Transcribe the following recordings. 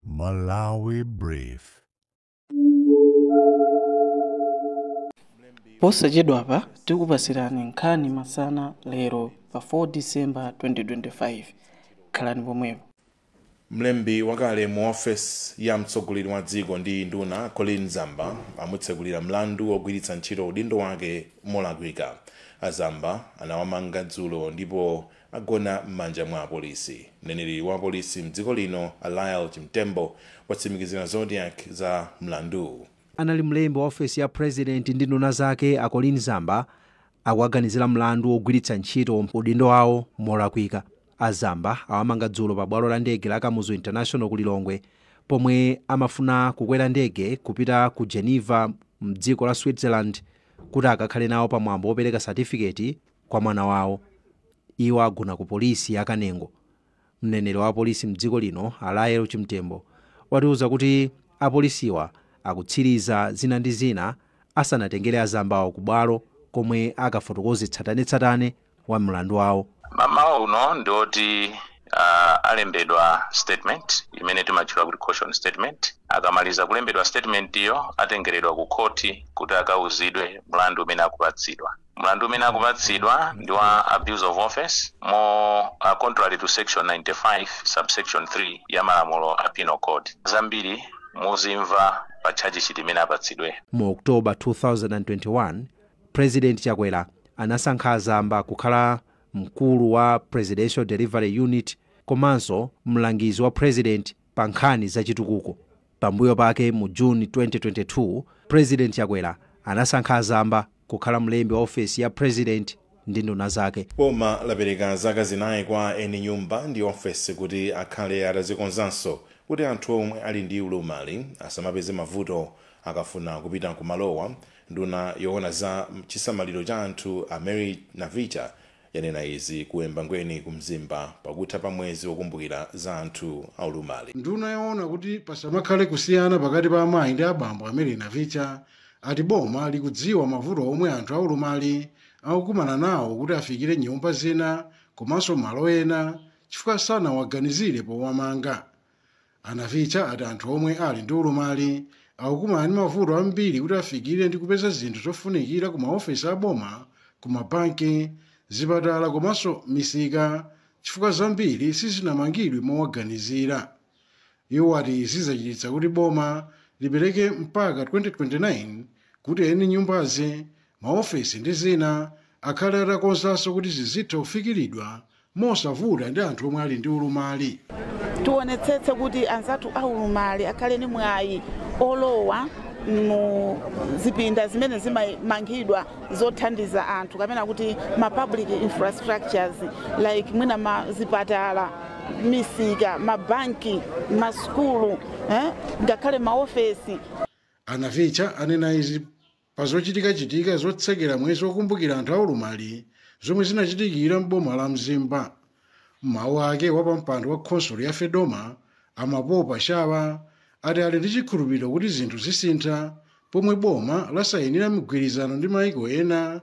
Malawi Brief. posachedwapa tikupasirani nkhani masana lero pa 4 disemba 2025 khalani pomwepo mlembi wakale mu ofesi ya mtsogoleri wa dziko ndi nduna colleen zamba amutsekulira mlandu wogwiritsa ntchito udindo wake molakwika a zamba anawamanga dzulo ndipo agona m'manja mwa apolisi. Mneneri wa apolisi m'dziko lino a Lael Chimtembo watsimikizira Zodiak za mlanduwu. Anali mlembi wa ofesi ya president ndi nduna zake a Colleen Zamba akuwaganizira mlandu wogwiritsa ntchito udindo wawo molakwika. A Zamba awamanga dzulo pa bwalo la ndege la Kamuzu International ku Lilongwe pomwe amafuna kukwera ndege kupita ku Geneva m'dziko la Switzerland kuti akakhale nawo pa mwambo wopereka satifiketi kwa mwana wawo. Iwo agona ku polisi ya Kanengo. Mneneri wa apolisi m'dziko lino a Lael Chimtembo watiuza kuti apolisiwa akutsiriza zina ndi zina asanatengere a Zambawa ku bwalo komwe akafotokoze tsatanetsatane wa mlandu wawo. Mamawa uno ndi oti uh, alembedwa statement imene timatchula kuti caution statement. Akamaliza kulembedwa statement iyo atengeredwa ku khoti kuti akauzidwe mlandu umene akupatsidwa. Mlandu umene akupatsidwa ndi wa abuse of office mo a contrary to section 95 subsection 3 ya malamulo a Penal Code. Zambiri muzimva pa tchajishiti imene apatsidwe. Mu October 2021, Prezidenti Chakwera anasankha a Zamba kukhala mkulu wa Presidential Delivery Unit komanso mlangizi wa Prezidenti pa nkhani za chitukuko. Pambuyo pake mu June 2022, Prezidenti Chakwera anasankha a Zamba kukhala mlembi wa ofesi ya Prezidenti ndi nduna zake. Boma lapereka zaka zinayi kwa eni nyumba ndi ofesi kuti akhale atazikonzanso kuti anthu omwe ali ndi ulumali asamapeze mavuto akafuna kupita ku malowa. Nduna yowona za chisamaliro cha anthu a Mary Navicha yanena izi ku Embangweni ku Mzimba pakutha pa mwezi wokumbukira za anthu aulumali. Nduna yoona kuti pasamakhale kusiyana pakati pa amayi ndi abambo a Mary Navicha ati boma likudziwa mavuto omwe anthu aulumali akukumana nawo kuti afikire nyumba zina komanso malo ena chifukwa sanawaganizire powamanga. A Navicha ati anthu omwe ali ndi ulumali akukumana ndi mavuto ambiri kuti afikire ndi kupeza zinthu zofunikira ku maofesi a boma, ku mabanki, zipatala komanso misika chifukwa zambiri sizinamangidwe mowaganizira. Iwo ati izi zachititsa kuti boma lipereke mpaka 2029 kuti eni nyumbazi, maofesi ndi zina akhale atakonzanso kuti zizitha kufikiridwa mosavuta ndi anthu omwe ali ndi ulumali. Tionetsetse kuti anzathu a ulumali akhale ndi mwayi olowa mu zipinda zimene zimamangidwa zothandiza anthu kapena kuti ma public infrastructures like mwina ma zipatala, misika, mabanki, masukulu eh, ngakhale maofesi. A Navicha anena izi Pa zochitikachitika zotsekera mwezi wokumbukira anthu aulumali zomwe zinachitikira m'boma la Mzimba. Mawu ake wapampando wa khonsolo ya Fedoma a Mapopa Shawa ati ali ndi chikhulupiriro kuti zinthu zisintha pomwe boma lasayinira mgwirizano ndi maiko ena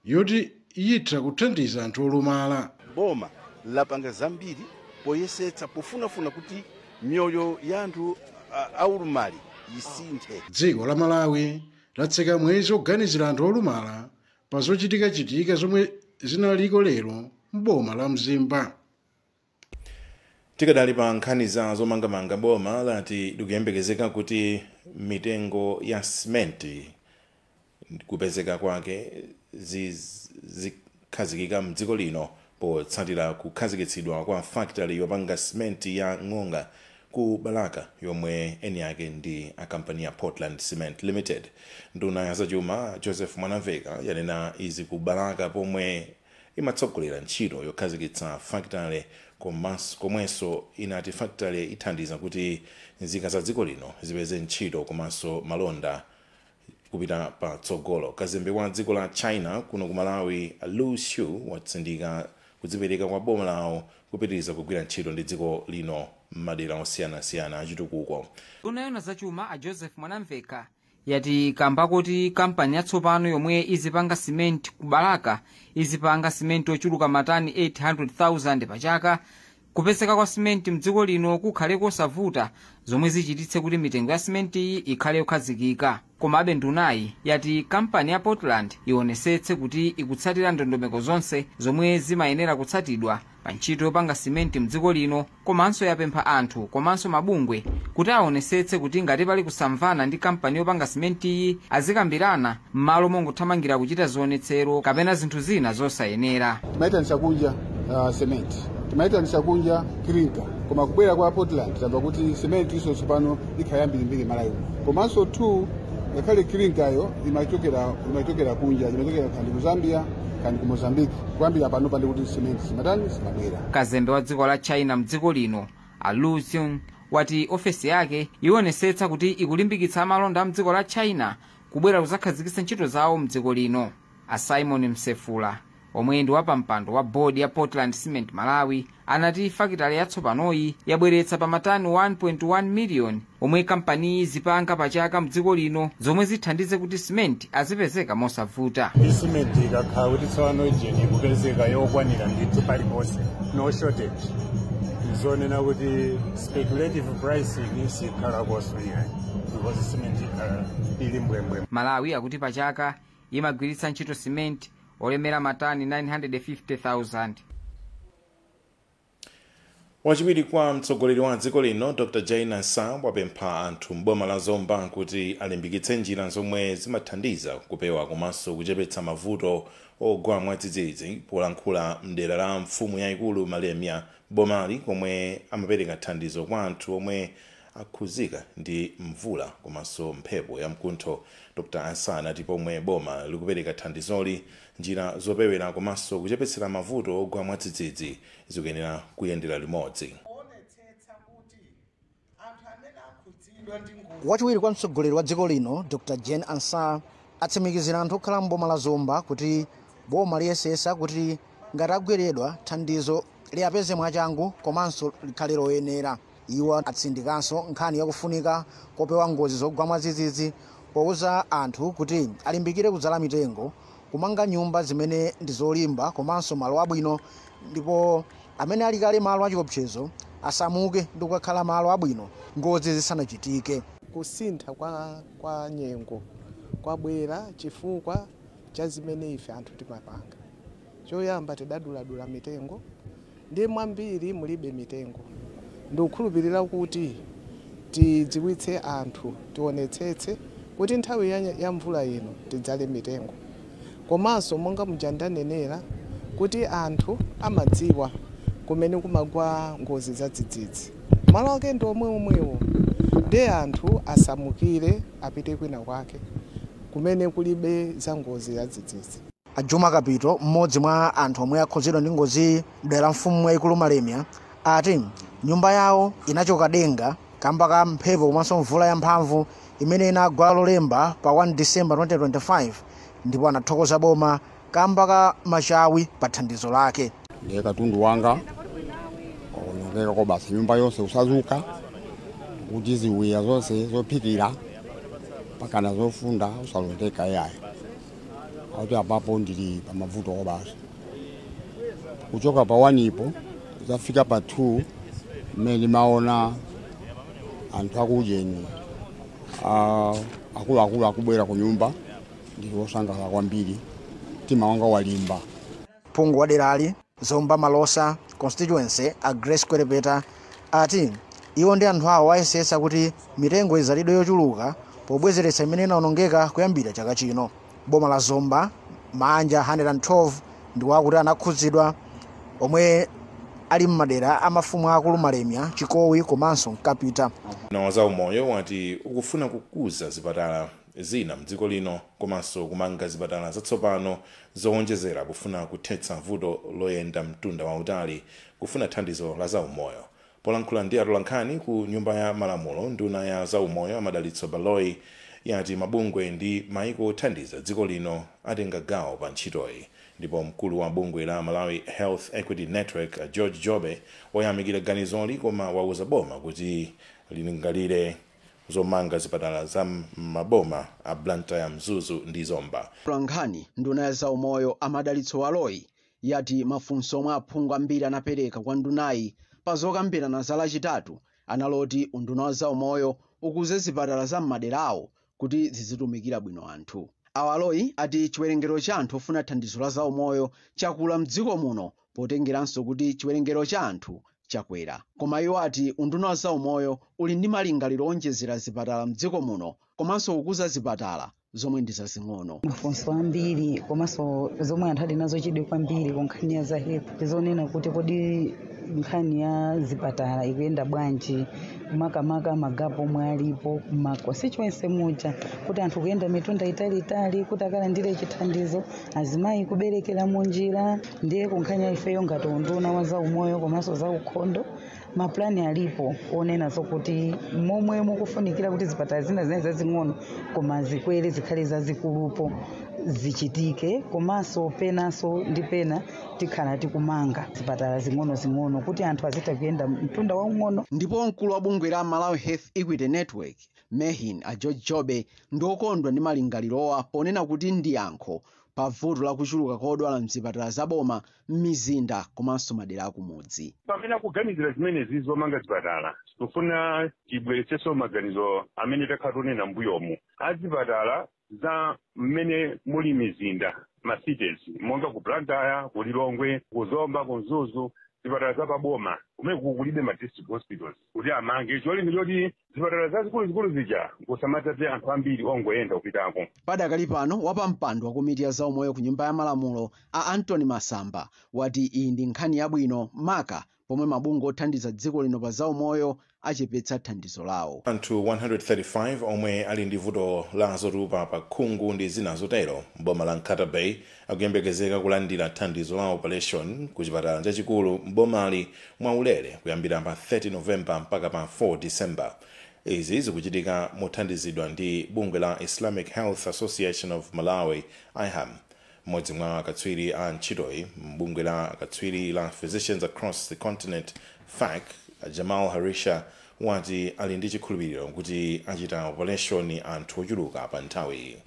yoti yitha kuthandiza anthu olumala. Boma lapanga zambiri poyesetsa pofunafuna kuti miyoyo ya anthu aulumali yisinthe. Dziko la Malawi latseka mwezi oganizira anthu olumala pa zochitika chitika zomwe zinaliko lero m'boma la Mzimba. Tikadali pa nkhani za zomangamanga boma lati likuyembekezeka kuti mitengo ya simenti kupezeka kwake zikhazikika mdziko lino potsatira kukhazikitsidwa kwa fakitale yopanga simenti ya Ng'onga ku Balaka yomwe eni yake ndi a kampani ya Portland Cement Limited. Nduna ya zachuma Joseph Mwanamveka yanena izi ku Balaka pomwe. imatsogolera ntchito yokhazikitsa fakitale komwenso inati fakitale ithandiza kuti nzika za dziko lino zipeze ntchito komanso malonda kupita pa tsogolo. Kazembe wa dziko la China kuno ku Malawi Lu Xu watsindika kudzipereka kwa boma lawo kupitiriza kugwira ntchito ndi dziko lino mmadera osiyanasiyana achitukuko. Nduna yoona za chuma a Joseph Mwanamvekha yati kamba kuti kampani yatsopano yomwe izipanga simenti ku balaka izipanga simenti ochuluka matani 800,000 pa chaka kupezeka kwa simenti mdziko lino kukhale kosavuta zomwe zichititse kuti mitengo ya simentiyi ikhale yokhazikika komabe ndunayi yati kampani ya portland ionesetse kuti ikutsatira ndondomeko zonse zomwe zimayenera kutsatidwa pa ntchito yopanga simenti mdziko lino komanso yapempha anthu komanso mabungwe kuti aonesetse kuti ngati pali kusamvana ndi kampani yopanga simentiyi azikambirana m'malo mongothamangira kuchita zionetsero kapena zinthu zina zosayenera timaitanisa kunja sementi timaitanisa kunja clinker koma kubwera kwa portland tamva kuti simenti iso tsopano ikhala yambirimbiri malawi uno komanso two ngakhale clinker yo imachokera imachokera kunja imachokera kandi ku zambia kandi ku mozambique kuyambira pano pandi kuti simenti simatani simabwera kazembe wa dziko la china mdziko lino a lu xu wati ofesi yake iwonesetsa kuti ikulimbikitsa amalonda a mdziko la china kubwera kuzakhazikitsa ntchito zawo mdziko lino a simon msefula omwe ndi wapampando wa bodi ya portland cement malawi anati fakitale yatsopanoyi yabweretsa pa matani 1.1 miliyoni omwe kampaniyi izipanga pa chaka mdziko lino zomwe zithandize kuti simenti azipezeka mosavuta simenti ikakhala kuti tsopano ujeni ikupezeka yokwanira ndithu paliponse no shortage zonena kuti speculative pricing sikhalakonso iyayi because simenti ikhala ili mbwee mbwee malawi akuti pa chaka imagwiritsa ntchito simenti olemera matani 950,000 wachiwiri kwa mtsogoleri wa dziko lino dr jane ansah wapempha anthu m'boma la zomba kuti alimbikitse njira zomwe zimathandiza kupewa komanso kuchepetsa mavuto ogwa mwadzidzidzi polankhula mdera la mfumu yayikulu malemia m'bomali komwe amapereka thandizo kwa anthu omwe akhudzidwa ndi mvula komanso mphepo yamkuntho. Dr Ansah anati pomwe boma likupereka thandizoli, njira zopewera komanso kuchepetsera mavuto ogwa mwadzidzidzi zikuyenera kuyendera limodzi. Wachiwiri kwa mtsogoleri wa dziko lino, Dr Jane Ansah, atsimikizira anthu okhala m'boma la Zomba kuti boma liyesesa kuti ngati agweredwa, thandizo liapeze mwachangu komanso likhale loyenera. Iwo atsindikanso nkhani ya kufunika kopewa ngozi zogwa mwadzidzidzi pouza anthu kuti alimbikire kudzala mitengo, kumanga nyumba zimene ndi zolimba komanso malo abwino ndipo amene ali kale malo achiopsezo asamuke ndi kukakhala malo abwino ngozi zisanachitike. Kusintha kwa nyengo kwabwera chifukwa cha zimene ife anthu timapanga. Choyamba tidaduladula mitengo ndiye mwambiri mulibe mitengo. Ndikukhulupirira kuti tidziwitse anthu, tionetsetse kuti nthawi ya mvula ino tidzale mitengo. Komanso monga muja ndanenera kuti anthu amadziwa kumene kumagwa ngozi zadzidzidzi, malo ake ndi omweomwewo ndiye anthu asamukire apite kwina kwake kumene kulibe za ngozi zadzidzidzi. A Juma Kapito, m'modzi mwa anthu omwe akhudzidwa ndi ngoziyi mdera la mfumu yaikulu Malemia ati nyumba yawo inachoka denga kamba ka mphepo komanso mvula ya mphamvu imene inagwa lolemba pa 1 December 2025 ndipo anathokoza boma kamba ka machawi pa thandizo lake. Ndiye katundu wanga waonongeka kwabasi, nyumba yonse kusasuka kuti ziwiya zonse zophikira mpakana zofunda usalondeka iyayi akuti apapo ndili pa mavuto basi kuchoka pa 1 ipo zafika pa 2 mmene ndimaona anthu akujeni ah, akuluakulu akubwera ku nyumba ndili wosangalala kwambiri mtima wanga walimba Phungu wa derali, Zomba Malosa Constituency, a Grace Kwelepeta ati iwo ndi anthu awo ayesetsa kuti mitengo idzalidwe yochuluka pobwezeretsa imene inaonongeka kuyambira chaka chino. Boma la Zomba, maanja 112 ndiwo akuti anakhudzidwa omwe ali m'madera a mafumu aakulu Malemya, Chikowi komanso Nkapita. Unduna wa zaumoyo wati ukufuna kukuza zipatala zina mdziko lino komanso kumanga zipatala zatsopano zowonjezera pofuna kuthetsa vuto loyenda mtunda wautali kufuna thandizo la zaumoyo. Polankhula ndi atolankhani ku Nyumba ya Malamulo, nduna ya zaumoyo a Madalitso Baloyi yati mabungwe ndi maiko othandiza dziko lino atenga gawo pa ntchitoyi ndipo mkulu wa bungwe la Malawi Health Equity Network a George Jobe wayamikira ganizoli koma wauza boma kuti lilingalire zomanga zipatala za m'maboma a Blantyre, Mzuzu ndi Zomba. Mtolankhani Nduna ya zaumoyo a Madalitso Baloyi yati mafunso omwe aphungu ambiri anapereka kwa ndunayi pa zokambirana za Lachitatu anali oti unduna wa zaumoyo ukuze zipatala za m'madera awo kuti zizitumikira bwino anthu. A Baloyi ati chiwerengero cha anthu ofuna thandizo la zaumoyo chakula m'dziko muno potengeranso kuti chiwerengero cha anthu chakwera koma iwo ati unduna wa zaumoyo uli ndi malingaliro owonjezera zipatala mdziko muno komanso kukuza zipatala zomwe ndi zazing'ono mafunso ambiri komanso zomwe anthu ali nazo chidwi kwambiri ku nkhani ya za health ndizonena kuti kodi nkhani ya zipatala ikuyenda bwanji makamaka magapo omwe alipo ma constituency muja kuti anthu kuyenda mitunda italiitali kuti akalandire chithandizo azimayi kuberekera munjira ndiye kunkhaniyi ifeyo ngati unduna wa zaumoyo komanso zaukhondo mapulani alipo onena zokuti momwe mukufunikira kuti zipatala zina zina zazing'ono koma zikwere zikhale zazikulupo zichitike komanso penanso ndi pena tikhala tikumanga zipatala zing'onozing'ono kuti anthu azitha kuyenda mtunda waung'ono ndipo mkulu wa bungwe la malawi health equity network mehn a george jobe ndi okondwa ndi malingalirowa ponena kuti ndi yankho pa vuto la kuchuluka kwa odwala m'zipatala za boma m'mizinda komanso madera akumudzi. pamene akuganizira zimenezi zomanga zipatala tikufuna tibweretsenso maganizo amene takhala tikunena mbuyomu azipatala za mmene muli mizinda ma cities monga ku blantyre ku lilongwe ku zomba ku mzuzu zipatala za paboma kumene kukulibe ma district hospitals kuti amange cholinga choti zipatala zazikuluzikulu zija kusamadzaze anthu ambiri ongoyenda kupitako padakali pano wapampando wa komiti ya zaumoyo ku nyumba ya malamulo a anthony masamba wati iyi ndi nkhani yabwino maka pomwe mabungwe othandiza dziko lino pa zaumoyo achepetsa thandizo lawo anthu 135 omwe ali ndi vuto la zotupa pa khungu ndi zina zotero mboma la nkhata bay akuyembekezeka kulandira thandizo la operation ku chipatala chachikulu m'bomali mwaulere kuyambira pa 30 novemba mpaka pa 4 disemba izi zikuchitika mothandizidwa ndi bungwe la islamic health association of malawi iham mmodzi mwa akatswiri a ntchitoyi m'bungwe la akatswiri la physicians across the continent fac jamal harisha wati ali ndi chikhulupiriro kuti achita operation anthu ochuluka pa nthawiyi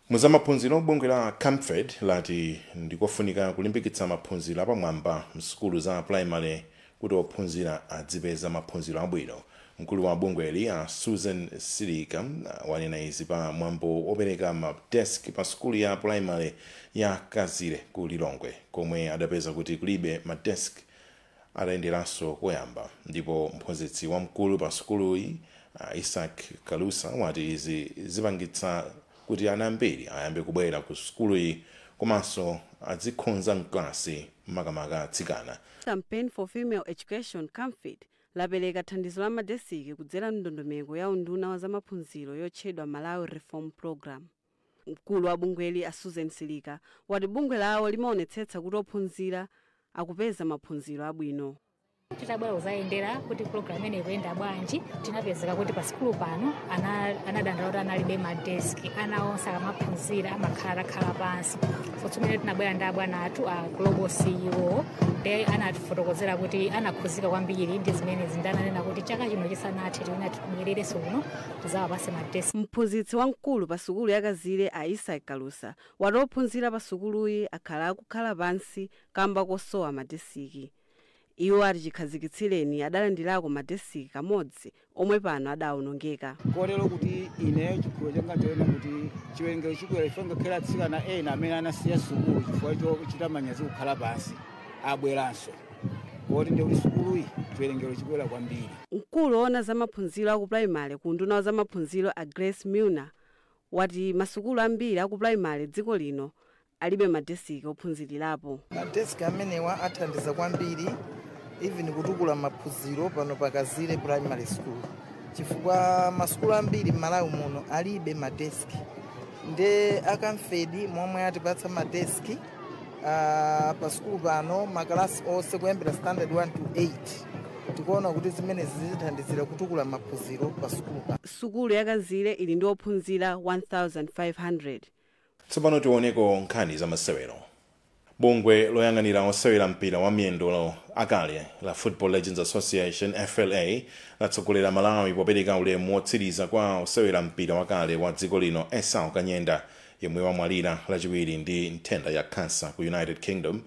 Mu zamaphunziro, bungwe la Camfed lati ndikofunika kulimbikitsa maphunziro apamwamba msukulu za pulayimale kuti ophunzira adzipeza maphunziro abwino. Mkulu wa bungweli a Susan Silika wanena izi pa mwambo wopereka ma desk pa sukulu ya primary ya Kazire ku Lilongwe komwe adapeza kuti kulibe ma desk. Atayenderanso koyamba ndipo mphunzitsi wamkulu pa sukuluyi a Isaac Kalusa wati izi zipangitsa kuti ana ambiri ayambe kubwera ku sukuluyi komanso adzikhonza mklasi makamaka atsikana. Campaign for Female Education, Camfed, lapereka thandizo la madesiki kudzera m'ndondomeko ya unduna wa zamaphunziro yotchedwa Malawi Reform Programme. Mkulu wa bungweli a Susan Silika wati bungwe lawo limaonetsetsa kuti ophunzira akupeza maphunziro abwino. Titabwera kuzayendera kuti program imeneyi ikuyenda bwanji, tinapezeka kuti pa sukulu pano ana anadandaula kuti analibe ma desk. Ana onse akamaphunzira amakhala atakhala pansi. So mmene tinabwera ndi abwana athu a Global CEO ndiye anatifotokozera kuti anakhuzika kwambiri ndi zimene ndi ananena kuti chaka chino chisanathe tiyeni tibwererenso kuno tizawapase ma desk. Mphunzitsi wamkulu pa sukulu ya Kazire a Isaac Kalusa wati ophunzira pa sukuluyi akhala akukhala pansi kamba kosowa ma desiki. Iwo ati chikhazikitsireni adalandirako ma desiki kamodzi omwe pano adaonongeka. Kotero kuti ineyo chikhulupiriro changa nchonena kuti chiwerengero chikwera chifukwa ngakhale atsikana ena amene anasiya sukulu chifukwa chochita manyazi kukhala pansi abweranso. poti ndi kuti sukuluyi chiwerengero chikwera kwambiri Mkulu woona za maphunziro a ku primary ku unduna wa za maphunziro a Grace Milner wati masukulu ambiri a ku primary m'dziko lino alibe madesiki ophunzirirapo. madesiki amenewa athandiza kwambiri even kutukula maphunziro pano pa kazire primary school chifukwa masukulu ambiri m'malawi muno alibe madesiki nde a Camfed momwe atipatsa madesiki Ah, pa sukulu pano makalasi onse kuyambira standard 1 to 8 tikuona kuti zimenezi zitithandizira kutukula maphunziro pa sukulu pano sukulu yakazire ili ndi ophunzira 1500 tsopano tioneko nkhani za masewero bungwe loyang'anira osewera mpira wa miyendo akale la football legends association fla latsogolera malawi popereka ulemu wotsiriza kwa osewera mpira wakale wa dziko lino esau kanyenda yemwe wamwalira lachiwiri ndi nthenda ya khansa ku United Kingdom.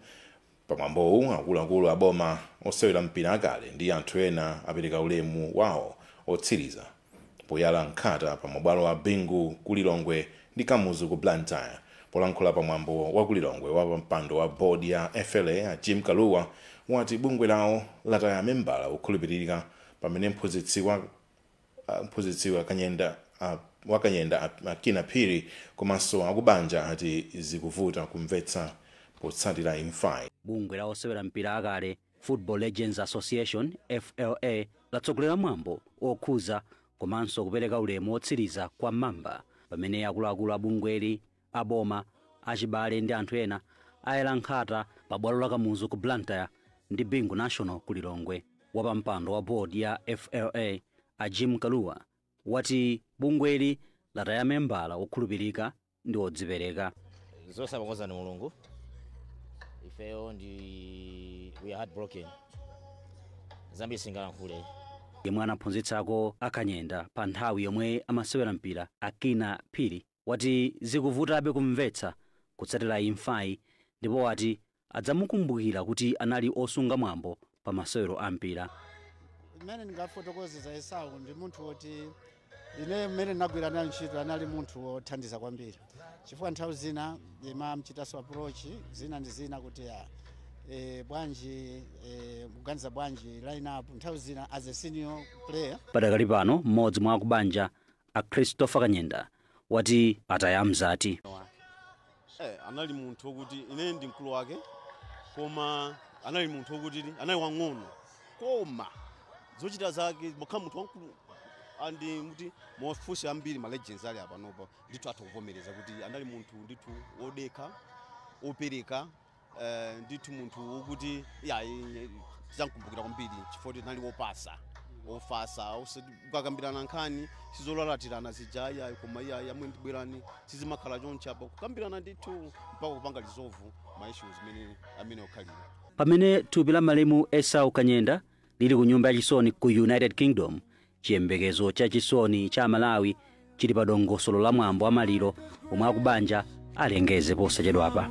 Pamwambowu akuluakulu a boma, osewera mpira akale ndi anthu ena apereka ulemu wawo otsiriza poyala nkhata pa mabwalo a Bingu ku Lilongwe ndi Kamuzu ku Blantyre. Polankhula pa mwambo wa ku Lilongwe, wapampando wa board ya FLA a Jim Kalua wati bungwe lawo lataya membala wokhulupirika pamene mphunzitsi wa mphunzitsi wa kanyenda wa kanyenda a kinnah phiri komanso akubanja ati zikuvuta kumvetsa potsatira imfayi bungwe la osewera mpira akale football legends association fla latsogolera mwambo okhuza komanso kupereka ulemu otsiriza kwa mamba pamene akuluakulu a bungweli A boma, achibale ndi anthu ena ayala nkhata pa bwalo la Kamuzu ku Blantyre ndi Bingu National ku Lilongwe. Wapampando wa board ya FLA, a Jim Kalua, wati bungweli lataya membala wokhulupirika ndi wodzipereka. zonse amakonza ndi mulungu ifeyo ndi we are heart broken zambiri singalankhule yemwe anaphunzitsako a kanyenda pa nthawi yomwe amasewera mpira a kinnah phiri wati zikuvutabe kumvetsa kutsatira imfayi ndipo wati adzamukumbukira kuti anali osunga mwambo pa masewero a mpira. Mmene ndingafotokoze za Esau ndi munthu woti ine mmene ndinagwira naye ntchito anali munthu wothandiza kwambiri chifukwa nthawi zina ndimamchitanso approach zina ndi zina kuti ya e, bwanji e, kuganiza bwanji line up nthawi zina as a senior player Padakali pano mmodzi mwa akubanja a Christopher Kanyenda wati ataya mzati. Eh, anali munthu okuti ine ndi mkulu wake koma anali munthu okuti anali wang'ono koma zochita zake mokhala munthu wamkulu andi muti mufunse ambiri ma legends ali apanopa ndithu atha kuvomereza kuti anali munthu ndithu wodekha opereka Eh, ndithu munthu wokuti yayi tizamkumbukira kwambiri chifukwa anali wopasa wofasa ukakambirana nkhani sizolalatirana zija yayi koma iyayi amwe ndibwerani sizimakhala chonchi apa kukambirana ndithu mpaka kupanga resolve ma issues amene okhalira pamene thupi la malemu esau kanyenda lili ku nyumba yachisoni ku united kingdom Chiyembekezo cha chisoni cha Amalawi chili pa dongosolo la mwambo wa maliro omwe akubanja alengeze posachedwapa.